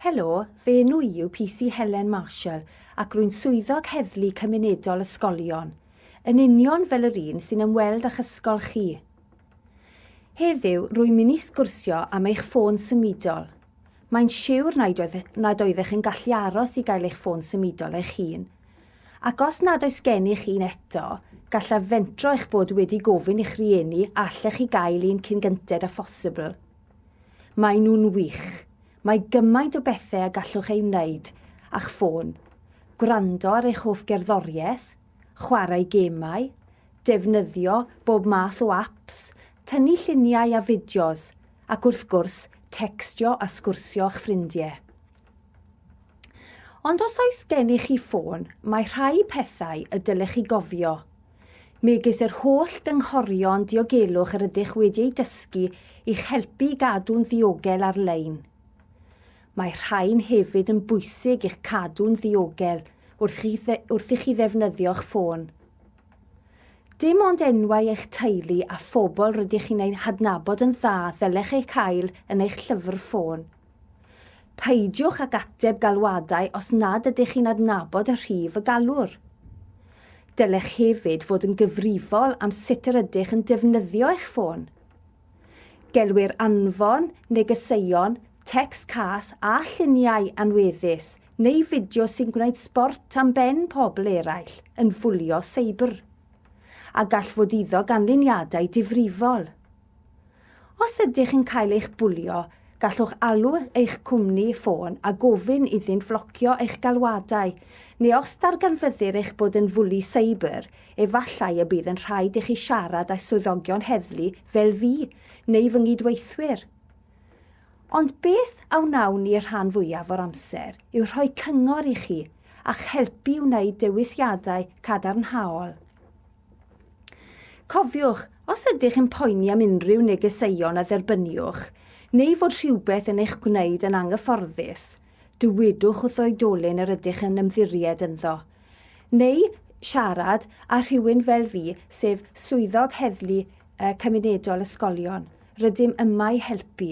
Helo, fy enw i yw PC Helen Marshall ac rwy'n swyddog heddlu cymunedol ysgolion, yn union fel yr un sy'n ymweld â'ch ysgol chi. Heddiw, rwy'n mynd i sgwrsio am eich ffôn symudol. Mae'n siwr nad oeddech yn gallu aros i gael eich ffôn symudol eich hun. Ac os nad oes gennych un eto, gallaf fentro eich bod wedi gofyn i'ch rhieni allech chi gael un cyn gynted â phosibl. Maen nhw'n wych. Mae gymaint o bethau a gallwch eu wneud â'ch ffôn, gwrando ar eich hoff gerddoriaeth, chwarae gemau, defnyddio bob math o apps, tynnu lluniau a fideos, ac wrth gwrs, tecstio a sgwrsio â'ch ffrindiau. Ond os oes gennych chi ffôn, mae rhai pethau y dylech chi gofio, megis yr holl gynghorion diogelwch yr ydych wedi eu dysgu i'ch helpu i gadw'n ddiogel ar-lein. Mae rhain hefyd yn bwysig i'ch cadw'n ddiogel wrth i chi ddefnyddio'ch ffôn. Dim ond enwau eich teulu a phobl rydych chi'n eu hadnabod yn dda ddylech eu cael yn eich llyfr ffôn. Peidiwch ag ateb galwadau os nad ydych chi'n adnabod y rhif y galwr. Dylech hefyd fod yn gyfrifol am sut yr ydych yn defnyddio eich ffôn. Gelwir anfon, negeseuon, tecst cas a lluniau anweddus neu fideos sy'n gwneud sbort am ben pobl eraill yn fwlio seibr, a gall fod iddo ganlyniadau difrifol. Os ydych yn cael eich bwlio, gallwch alw eich cwmni ffôn a gofyn iddynt flocio eich galwadau, neu os darganfyddir eich bod yn fwli seibr, efallai y bydd yn rhaid i chi siarad â swyddogion heddlu fel fi neu fy nghydweithwyr. Ond beth a wnawn ni y rhan fwyaf o'r amser yw rhoi cyngor i chi a'ch helpu i wneud dewisiadau cadarnhaol. Cofiwch, os ydych yn poeni am unrhyw negeseuon a dderbyniwch, neu fod rhywbeth yn eich gwneud yn anghyfforddus, dywedwch wrth oedolyn yr ydych yn ymddiried ynddo, neu siarad â rhywun fel fi, sef Swyddog Heddlu Cymunedol Ysgolion. Rydym yma i helpu.